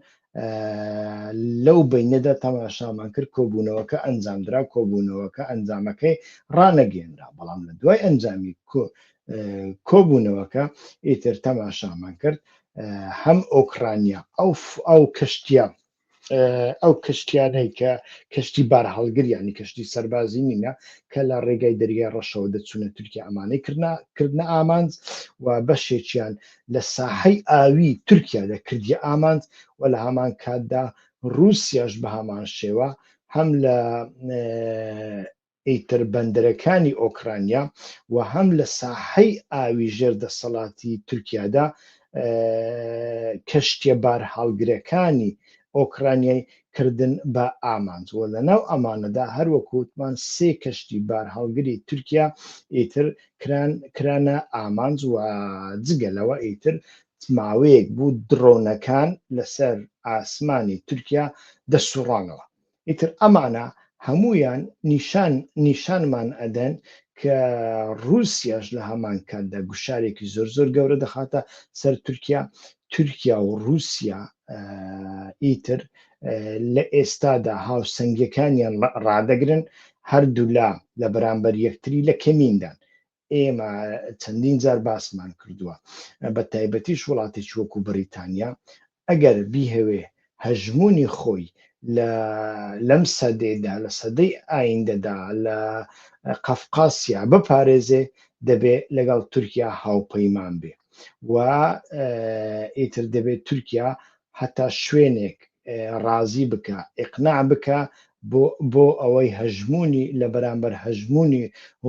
لەو بینەدا تەماشامان کرد کۆبوونەوەکە ئەنجامدرا کۆبوونەوەکە ئەنجامەکەی ڕانەگەێنرا بەڵام لە دوای ئەنجامی کۆبوونەوەکە ئیتر تەماشامان کرد هەم ئۆکرانیا ئەو ئەو کەشتیە ئەو کەشتیانەی کە کەشتی بار هەڵگریانی کەشتی سەربازی نینە کە لە ڕێگای دەریای ڕەشەوە دەچوونە تورکیا ئەمانەی کردە ئامانج و بەشێکیان لە ساحەی ئاویی تورکیا دەکردیە ئامانج و لە هەمان کاتدا رووسیاش بە هەمان شێوە هەم لە ئیتر بەندەرەکانی ئۆکرانیا و هەم لە ساحەی ئاوی ژێر دەسەڵاتی تورکیادا کەشتیە بارهاڵگرەکانی ئۆکرانیای کردن بە ئامانج و لە ناو ئەمانەدا هەروەکووتمان سێ کەشتی بارهاڵگری تورکیا ئیتر کران کرانە ئامانج و جگە لەوە ئیتر ماوەیەک بوو درۆنەکان لەسەر ئاسمانی تورکیا دەسوڕانەوە ئیتر ئەمانە هەمویان نیشان نیشانمان ئەدەن کە رووسیاش لە هەمان کاتدا گوشارێکی زۆر زۆر گەورە دەخاتە سەر تورکیا تورکیا و رووسیا ئیتر لە ئێستادا هاوسەنگەکانیان ڕدەگرن هەردوولا لە بەرامبەر یەکتری لە کەمیندان ئێمە چەندین جار باسمان کردووە بە تایبەتیش وڵاتێک وەکو بەریتانیا ئەگەر بیهەوێ هەژمونی خۆی لە لەم سەدەیدا لە سەدەی ئایندەدا لە قەفقاسیا بپارێزێ دەبێ لەگەڵ تورکیا هاوپەیمان بێ و ئیتر دەبێت تورکیا هەتا شوێنێک ڕازی بکا ئیقناع بکا بۆ بۆ ئەوەی هەژموونی لە بەرامبەر هەژموونی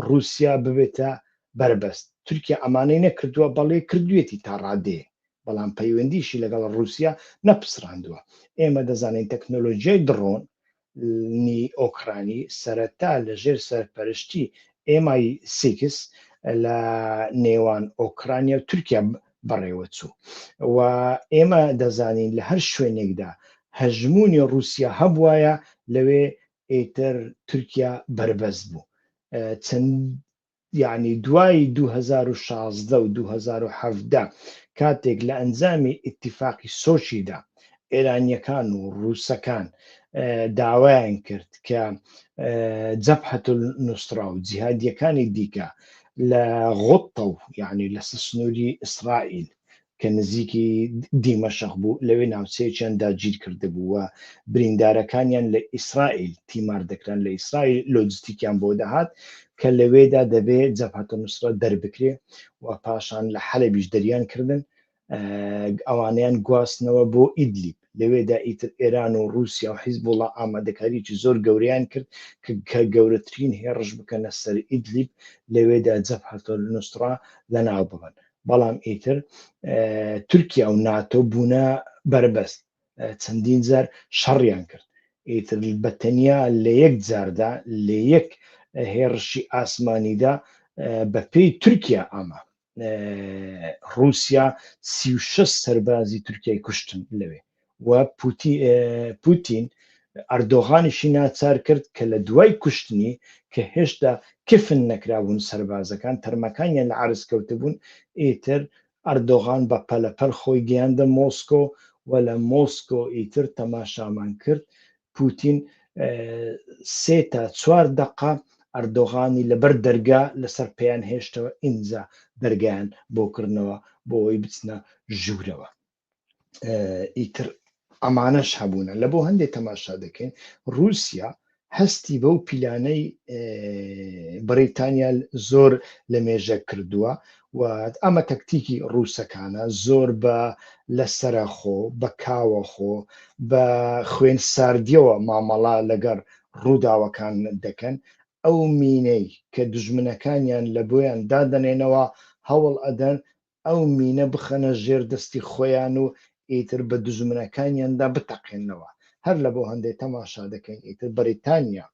ڕووسیا ببێتە بەربەست تورکیا ئەمانەی نەکردووە بەڵی کردوویەتی تا ڕادەیە بەڵام پەیوەندیشی لەگەڵ ڕووسیا نەپسڕاندووە ئێمە دەزانین تەکنۆلۆژیای دڕۆن نی ئۆکرانی سەرەتا لە ژێر سەرپەرشتی MI six لە نێوان ئۆکرانیا و تورکیا بەڕێوەچوو و ئێمە دەزانین لە هەر شوێنێکدا هەژموونی ڕووسیا هەبوایە لەوێ ئیتر تورکیا بەربەست بوو چەند یەعنی دوای دوو هەزار و شازدە و دوو هەزار و حەڤدە کاتێک لە ئەنجامی ئیتیفاقی سۆچیدا ئێرانیەکان و ڕووسەکان داوایان کرد کە جەبهەت نوسرا و جیهادیەکانی دیکە لە غوتە و یعنی لەسەر سنووری ئیسرائیل کە نزیکی دیمەشق بوو، لەوێ ناوچەیەکیان داگیرکردبوو و بریندارەکانیان لە ئیسرائیل تیمار دەکران، لە ئیسرائیل لۆجستیکیان بۆ دەهات کە لەوێدا دەبێ جەبهەت النوسرە دەربکرێ و پاشان لە حەلەبیش دەریان کردن، ئەوانەیان گواستنەوە بۆ ئیدلیب. لەوێدا ئیتر ئێران و ڕووسیا و حیزبوڵا ئامادەکارییەکی زۆر گەورەیان کرد کە گەورەترین هێڕش بکەنە سەر ئیدلیب لەوێدا جەبهەتولنوسڕە لەناو ببەن بەڵام ئیتر تورکیا و ناتۆ بوونە بەربەست چەندین جار شەڕیان کرد ئیتر بە تەنیا لە یەک جاردا لە یەک هێڕشی ئاسمانیدا بە پێی تورکیا ئامادە ڕووسیا سی و شەش سەربازی تورکیای کوشتن لەوێ و پوتین ئەردۆغانیشی ناچار کرد کە لە دوای کوشتنی کە هێشتا کفن نەکرابوون سربازەکان تەرمەکانیان لە عرز کەوتبوون ئیتر ئەردۆغان بە پەلەپەل خۆی گەیاندە مۆسکۆ و لە مۆسکۆ ئیتر تەماشامان کرد پوتین سێ تا چوار دەقە ئەردۆغانی لەبەر دەرگا لەسەر پێیان هێشتەوە ئینجا دەرگیان بۆ کردنەوە بۆ ئەوی بچنە ژوورەوە ئیتر ئەمانەش هەبوونە لە بۆ هەندێک تەماشا دەکەین رووسیا هەستی بەو پیلانەی بەریتانیا زۆر لە مێژە کردووە و ئەمە تەکتیکی ڕووسەکانە زۆر بە لە سەرە خۆ بە کاوە خۆ بە خوێن ساردیەوە مامەڵە لەگەر ڕووداوەکان دەکەن ئەو مینەی کە دژمنەکانیان لە بۆیان دادەنێنەوە هەوڵ ئەدەن ئەو مینە بخەنە ژێر دەستی خۆیان و ئیتر بە دژمنەکانیاندا بتەقێنەوە هەر لە بۆ هەندێک تەماشا دەکەین ئیتر بەریتانیا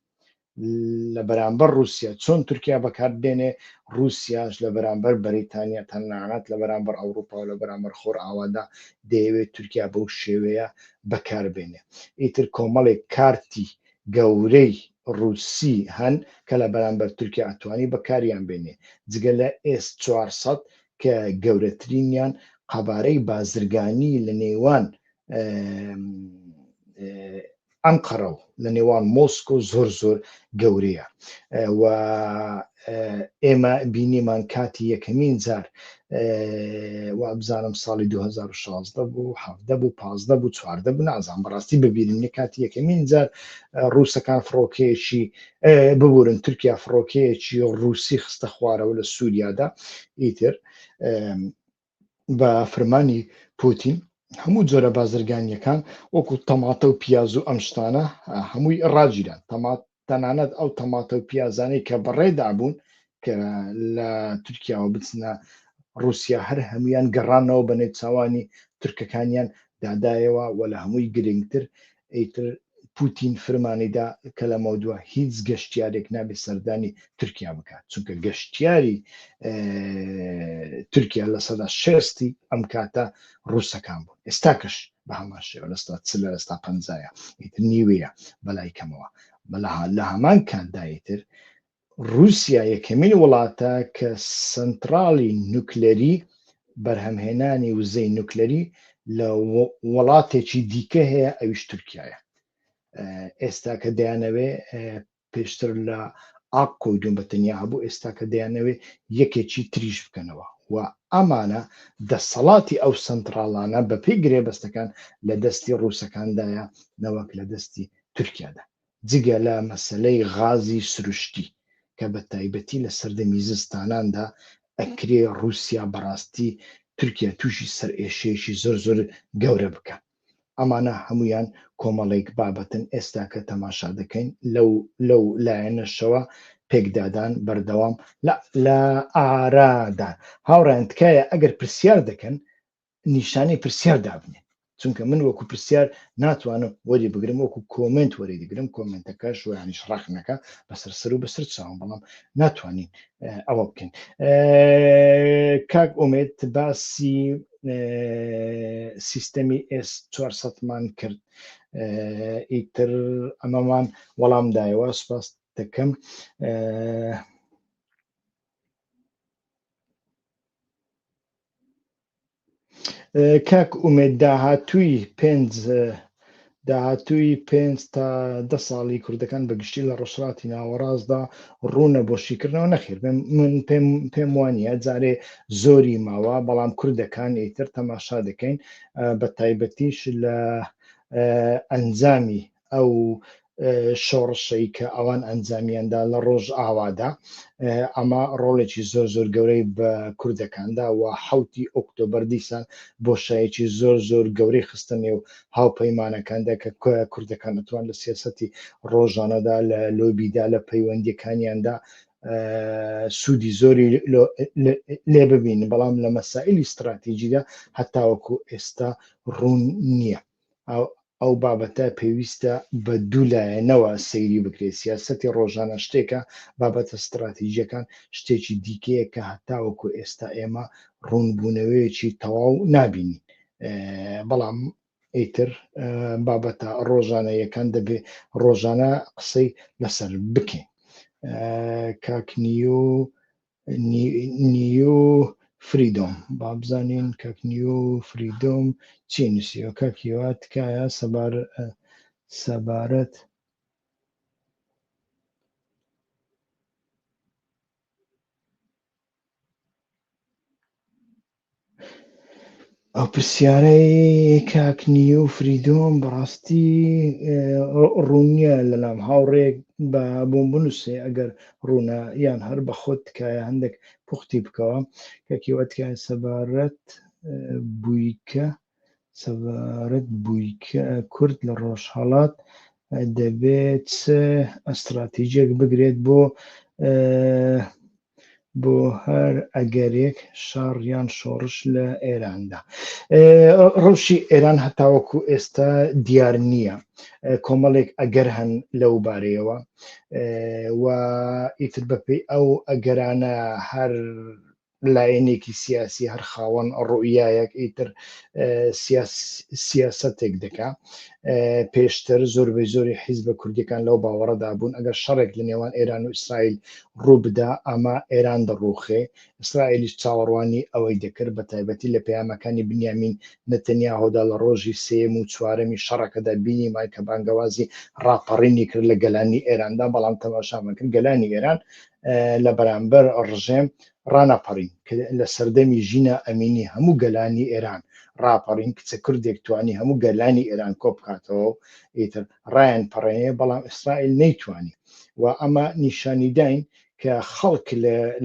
لە بەرامبەر رووسیا چۆن تورکیا بەکات بێنێ رووسیاش لە بەرامبەر بەریتانیا تەنانەت لە بەرامبەر ئەوروپا و لە بەرامبەر خۆر ئاوادا دەیەوێت تورکیا بەو شێوەیە بەکار بێنێ ئیتر کۆمەڵێک کارتی گەورەی رووسی هەن کە لە بەرامبەر تورکیا ئەتوانی بەکاریان بێنێ جگە لە ئێس 400 کە گەورەترینیان قەبارەی بازرگانی لە نێوان ئەنقەرە و لە نێوان مۆسک و زۆر زۆر گەورەیە و ئێمە بینیمان کاتی یەکەمین جار وابزانم ساڵی 2016 بوو هەفتە بوو پازدە بوو چواردە بوو نازان بەڕاستی ببیرنی کاتی یەکەمین جار ڕووسەکان فڕۆکەیەکی ببورن تورکیا فڕۆکەیەکی ڕووسی خستە خوارەوە لە سووریادا ئیتر بە فرمانی پوتین هەموو جۆرە بازرگانیەکان وەکو تەماتە و پیاز و ئەم شتانە هەمووی ڕاگیران تەمات تەنانەت ئەو تەماتە و پیازانەی کە بەڕێدا بوون کە لە تورکیاوە بچنە رووسیا هەر هەمویان گەڕانەوە بە نێچوانی تورکەکانیان دادایەوە و لە هەمووی گرنگتر ئیتر پوتین فرمانیدا کە لەمەودوا هیچ گەشتیارێک نابێت سەردانی تورکیا بکات چونکە گەشتیاری تورکیا لە سەدا شستی ئەم کاتە ڕووسەکان بوون ئێستاکەش بە هەمان شێوە لەستا چ لە ئێستا پەنجایە ئیتر نیوەیە بەلای کەمەوە بەلا لە هەمان کاتدایتر رووسیا یەکەمین وڵاتە کە سەنتڕاڵی نوکلەری، بەرهەمهێنانی وزەی نوکلەری، لە وڵاتێکی دیکە هەیە ئەویش تورکیایە. ئێستاکە دەیانەوێ پێشتر لە ئاق کۆیدون بە تەنیا هەبوو، ئێستاکە دەیانەوێ یەکێکی تریش بکەنەوە و ئەمانە دەسەڵاتی ئەو سەنتڕاڵانە بەپێی گرێبەستەکان لە دەستی رووسەکاندایە نەوەک لە دەستی تورکیادا. جگە لە مەسەلەی غازی سروشتی کە بە تایبەتی لە سەردەمی زستاناندا ئەکرێ ڕووسیا بەڕاستی تورکیا تووشی سەرئێشەیەکی زۆر زۆر گەورە بکا. ئەمانە هەموویان کۆمەڵێک بابەتن ئێستا کە تەماشا دەکەین لەو لەو لایەنەشەوە پێکدادان بەردەوام لە لە ئارادان. هاوڕێیان تکایە ئەگەر پرسیار دەکەن نیشانەی پرسیار دابنێن چونکە من وەکو پرسیار ناتوانم وەری بگرم وەکو کۆمنت وەری دەگرم کۆمنتەکە شویانیش ڕاخنەکە بەسەر سەر و بەسەر چاوم بەڵام ناتوانین ئەوە بکەین کاک ئومێت باسی سیستەمی ئس 400 مان کرد ئیتر ئەمەمان وەڵام دایەوە سپاس دەکەم کاک ئومێد داهاتووی پێنج داهاتووی پێنج تا دە ساڵی کوردەکان بە گشتی لە ڕۆژهڵاتی ناوەڕاستدا ڕوونە بۆ شیکردنەوە نەخێر من پێم پێم وانە جارێ زۆری ماوە بەڵام کوردەکان ئیتر تەماشا دەکەین بە تایبەتیش لە ئەنجامی ئەو شۆڕشەی کە ئەوان ئەنجامیاندا لە ڕۆژ ئاوادا ئەمە ڕۆڵێکی زۆر زۆر گەورەی بە کوردەکاندا و حوتی ئۆکتۆبەر دیسان بۆ شایەکی زۆر زۆر گەورەی خستە نێو هاوپەیمانەکاندا کە کوردەکان ئەتوان لە سیاستی ڕۆژانەدا لە لۆبیدا لە پەیوەندیەکانیاندا سوودی زۆری لێ ببین بەڵام لە مەسائلی استراتیژیدا هەتاوەکو ئێستا ڕوون نییە ئەو بابەتە پێویستە بە دوو لایەنەوە سەیری بکرێت سیاسەتی ڕۆژانە شتێکە بابەتە ستراتیژیەکان شتێکی دیکەیە کە هەتاوەکو ئێستا ئێمە ڕوونبوونەوەیەکی تەواو نابینین بەڵام ئیتر بابەتە ڕۆژانەیەکان دەبێ ڕۆژانە قسەی لەسەر بکەین کاکنی و نیو فریدۆم بابزانین کاک نیو فریدۆم چی نووسیوە کاک هیوا تکایە سەبار سەبارەت ئەو پرسیارەی کاک نیو فریدۆم بەڕاستی ڕوونیە لەلام هاوڕێک بە بۆم بنووسێ ئەگەر ڕوونە یان هەر بە خۆت تکایە هەندێک پوختی بکەوە کەکیوەتکە سەبارەت بوویکە سەبارەت بووی کە کورد لە ڕۆژهەڵات دەبێت چ ئەستراتیجێک بگرێت بۆ بۆ هەر ئەگەرێک شاڕیان شۆڕش لە ئێراندا ڕەوشی ئێران هەتاوەکو ئێستا دیار نییە کۆمەڵێک ئەگەر هەن لەو بارەیەوە و ئیتر بەپی ئەو ئەگەرانە هەر لایەنێکی سیاسی هەر خاوەن ڕوئیایەک ئیتر سیاسەتێک دەکا پێشتر زۆربەی زۆری حیزبە کوردیەکان لەو باوەڕەدا بوون ئەگەر شەڕێک لە نێوان ئێران و ئیسرائیل ڕووبدا ئەمە ئێران دەڕوخێ ئیسرائیلیش چاوەڕوانی ئەوەی دەکرد بە تایبەتی لە پەیامەکانی بنیامین نەتەنیا هۆدا لە ڕۆژی سێم و چوارەمی شەڕەکەدا بینی مای کە بانگەوازی ڕاپەڕینی کرد لە گەلانی ئێراندا بەڵام تەماشامان کرد گەلانی ئێران لە بەرامبەر ڕژێم ڕانەپەڕین لە سەردەمی ژینا ئەمینی هەموو گەلانی ئێران ڕاپەڕین کچە کوردێک توانی هەموو گەلانی ئێران کۆ بکاتەوە و ئیتر ڕایەن پەڕێنێ بەڵام ئیسرائیل نەیتوانی و ئەمە نیشانیداین کە خەڵک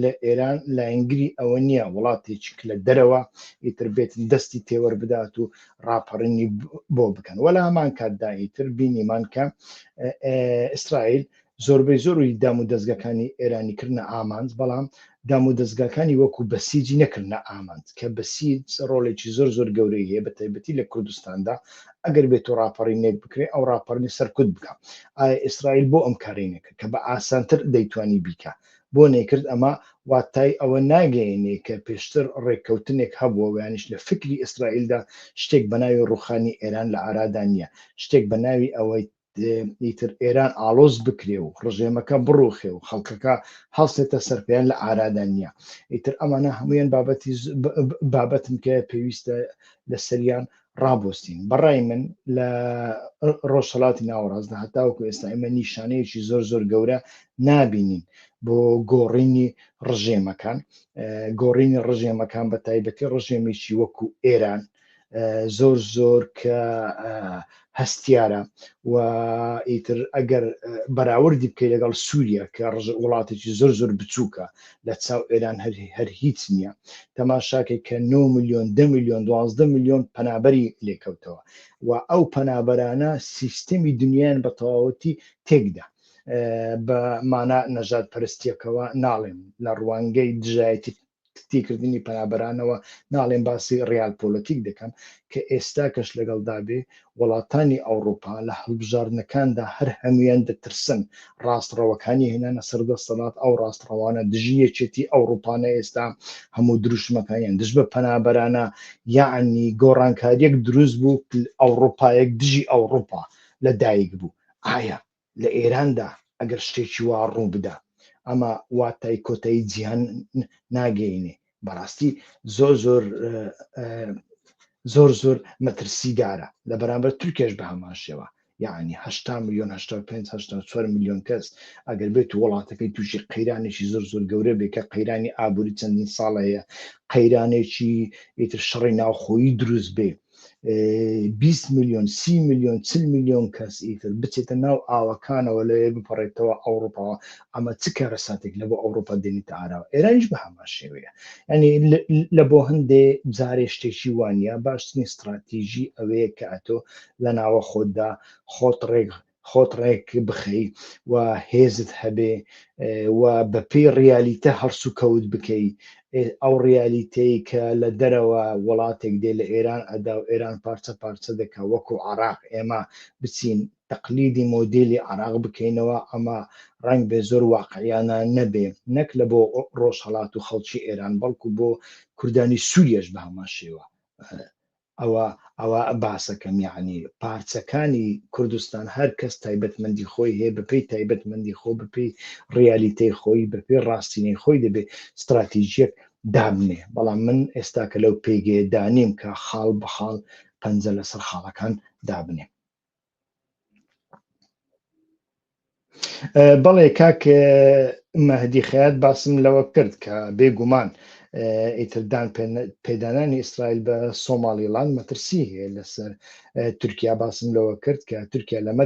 لە ئێران لایەنگری ئەوە نییە وڵاتێکیک لە دەرەوە ئیتر بێت دەستی تێوەەر بدات و ڕاپەڕینی بۆ بکەن وەلا هەمان کاتدا ئیتر بینیمان کە ئیسرائیل زۆربەی زۆری دامودەزگاکانی ئێرانی کردنە ئامانج، بەڵام دامودەزگاکانی وەکو بەسیجی نەکردنە ئامانج، کە بەسیج ڕۆڵێکی زۆر زۆر گەورەی هەیە بە تایبەتی لە کوردستاندا، ئەگەر بێتو ڕاپەڕینێک بکرێ ئەو ڕاپەڕینە سەرکوت بکا، ئایا ئیسرائیل بۆ ئەم کارەی نەکرد کە بە ئاسانتر دەیتوانی بیکا؟ بۆ نەیکرد؟ ئەمە واتای ئەوە ناگەیەنێ کە پێشتر ڕێککەوتنێک هەبووە وەیانیش لە فیکری ئیسرائیلدا شتێک بەناوی ڕوخانی ئێران لە ئارادا نیە، شتێک بەناوی ئەوەی ئیتر ئێران ئاڵۆز بکرێ و ڕژێمەکە بڕوخێ و خەڵکەکە هەڵسێتە سەرپێیان لە ئارادا نییە ئیتر ئەمانە هەمویان بابەتی بابەتن کە پێویستە لە سەریان ڕابستین بەڕای من لە ڕۆژهڵاتی ناوەڕاستدا هەتاوکو ئێستا ئێمە نیشانەیەکی زۆر زۆر گەورە نابینین بۆ گۆڕینی ڕژێمەکان گۆڕینی ڕژێمەکان بە تایبەتی ڕژێمیی وەکو ئێران زۆر زۆر کە هەستیارە و ئیتر ئەگەر بەراوردی بکەی لەگەڵ سووریا کە ڕژ وڵاتێکی زۆر زۆر بچووکە لە چاو ئێران هەر هەر هیچ نییە تەماشاکەی کە 9 میلیۆن ده میلیۆن دوازدە میلیۆن پەنابەری لێکەوتەوە و ئەو پەنابەرانە سیستەمی دنیایان بە تەواوەتی تێکدا بە مانا نەژاد پەرستیەکەوە ناڵێم لە ڕوانگەی دژایەتی تیکردنی پەنابەرانەوە ناڵێم باسی ڕیال پۆلەتیک دەکەم کە ئێستا کەش لەگەڵدا بێ وەڵاتانی ئەوڕوپا لە هەڵبژاردنەکاندا هەر هەمویان دەترسن ڕاست ڕەوەکانی هێنانە سەر دەستەڵات ئەو ڕاست ڕەوانە دژی یەکێتی ئەوڕوپانە ئێستا هەموو دروشمەکانیان دژ بە پەنابەرانە یاعنی گۆڕانکاریەک دروست بوو ئەوڕوپایەک دژی ئەوڕوپا لە دایک بوو ئایا لە ئێراندا ئەگەر شتێکی وا ڕووبدا ئەمە واتای کۆتایی جیهان ناگەینێ بەڕاستی زۆر زۆر زۆر زۆر مەترسیدارە لە بەرامبەر تورکێش بە هەمان شێوە یعنی هشتا میلیۆن هشتا پێنج هشتا چوار میلیۆن کەس ئەگەر بێت و وڵاتەکەی تووشی قەیرانێکی زۆر زۆر گەورە بێ کە قەیرانی ئابووری چەندین ساڵەیە قەیرانێکی ئیتر شەڕی ناوخۆیی دروست بێ 20 میلیۆن سی میلیۆن چل میلیۆن کەس ئیتر بچێتە ناو ئاوەکانەوە لەوێ بپەڕێتەوە ئەوروپاوە ئەمە چ کارەساتێک لە بۆ ئەوروپا دێنیتە ئاراوە ئێرانیش بە هەمان شێوەیە ینی لە بۆ هەندێ جارێ شتێکی وانە باشترین استراتیژی ئەوەیە کە ئەتۆ لە ناوە خۆتدا خۆت ڕێک خۆت ڕێک بخەی و هێزت هەبێ و بە پێی ڕیالیتە هەڵس و کەوت بکەی ئەو ڕیالیتەی کە لە دەرەوە وڵاتێک دێ لە ئێران ئەدا و ئێران پارچە پارچە دەکە وەکو عراق ئێمە بچین تەقلیدی مۆدیلی عراق بکەینەوە ئەمە ڕنگ بێ زۆر واقعیانە نەبێ نەک لە بۆ ڕۆژهڵات و خەڵکی ئێران بەڵکو بۆ کوردانی سووریش بە هەمان شێوە ئەوە ئەوە باسەکەم یەعنی پارچەکانی کوردستان هەر کەس تایبەتمەندی خۆی هەیە بەپێی تایبەتمەندی خۆ بەپێی ڕیالیتەی خۆی بەپێی ڕاستینەی خۆی دەبێ ستراتیژیەک دابنێ بەڵام من ئێستاکە لەو پێگەیە دانیم کە خاڵ بە خاڵ پەنجە لەسەر خاڵەکان دابنێم. بەڵێ کاک مەهدی خەیات باسم لەوە کرد کە بێگومان ئیتردان پێدانانی ئیسرائیل بە سۆماڵیڵان مەترسی هەیە لەسەر تورکیا باسم لەوە کرد کە تورکیا لەمە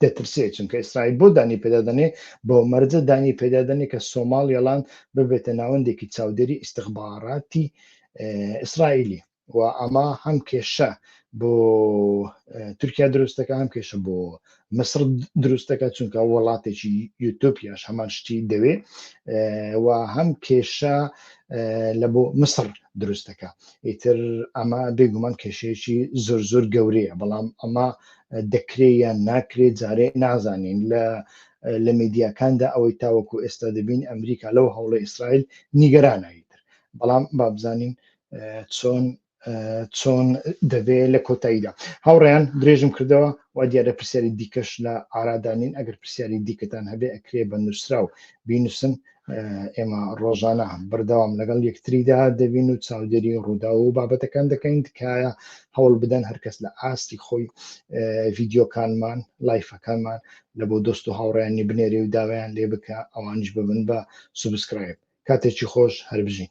دەترسێت چونکە ئیسرائیل بۆ دانی پێدادنێ بۆ مەرجە دانی پێدادنێ کە سۆماڵیڵان ببێتە ناوەندێکی چاودێری ئیسیخباراتی ئیسرائیلی و ئەمە هەم کێشە بۆ تورکیا دروستەکە هەم کێشە بۆ مصر دروستەکە چونکە وڵاتێکی یوتۆپیاش هەمان شتی دەوێ و هەم کێشە لە بۆ مصر دروستەکە ئیتر ئەمە بێگومان کێشەیەکی زۆر زۆر گەورەیە بەڵام ئەمە دەکرێ یان ناکرێت جارێ نازانین لە لە میدیاکاندا ئەوەی تاوەکو ئێستا دەبین ئەمریکا لەو هەوڵە ئیسرائیل نیگەرانایتر بەڵام بابزانین چۆن چۆن دەبێت لە کۆتاییدا هاوڕێیان درێژم کردەوە و دیارە پرسیاری دیکەش لە ئارادانین ئەگەر پرسیاری دیکەتان هەبێ ئەکرێ بە نووسرا و بینوسن ئێمە ڕۆژانە بەردەوام لەگەڵ یەکتریدا دەبین و چاودێری ڕوودا و بابەتەکان دەکەین تکایە هەوڵ بدەن هەرکەس لە ئاستی خۆی ڤیددیوکانمان لایفەکانمان لە بۆ دۆست و هاوڕیانی بنێری و داوایان لێ بکە ئەوانش ببن بە سوبسکرایب کاتێکی خۆش هەربژین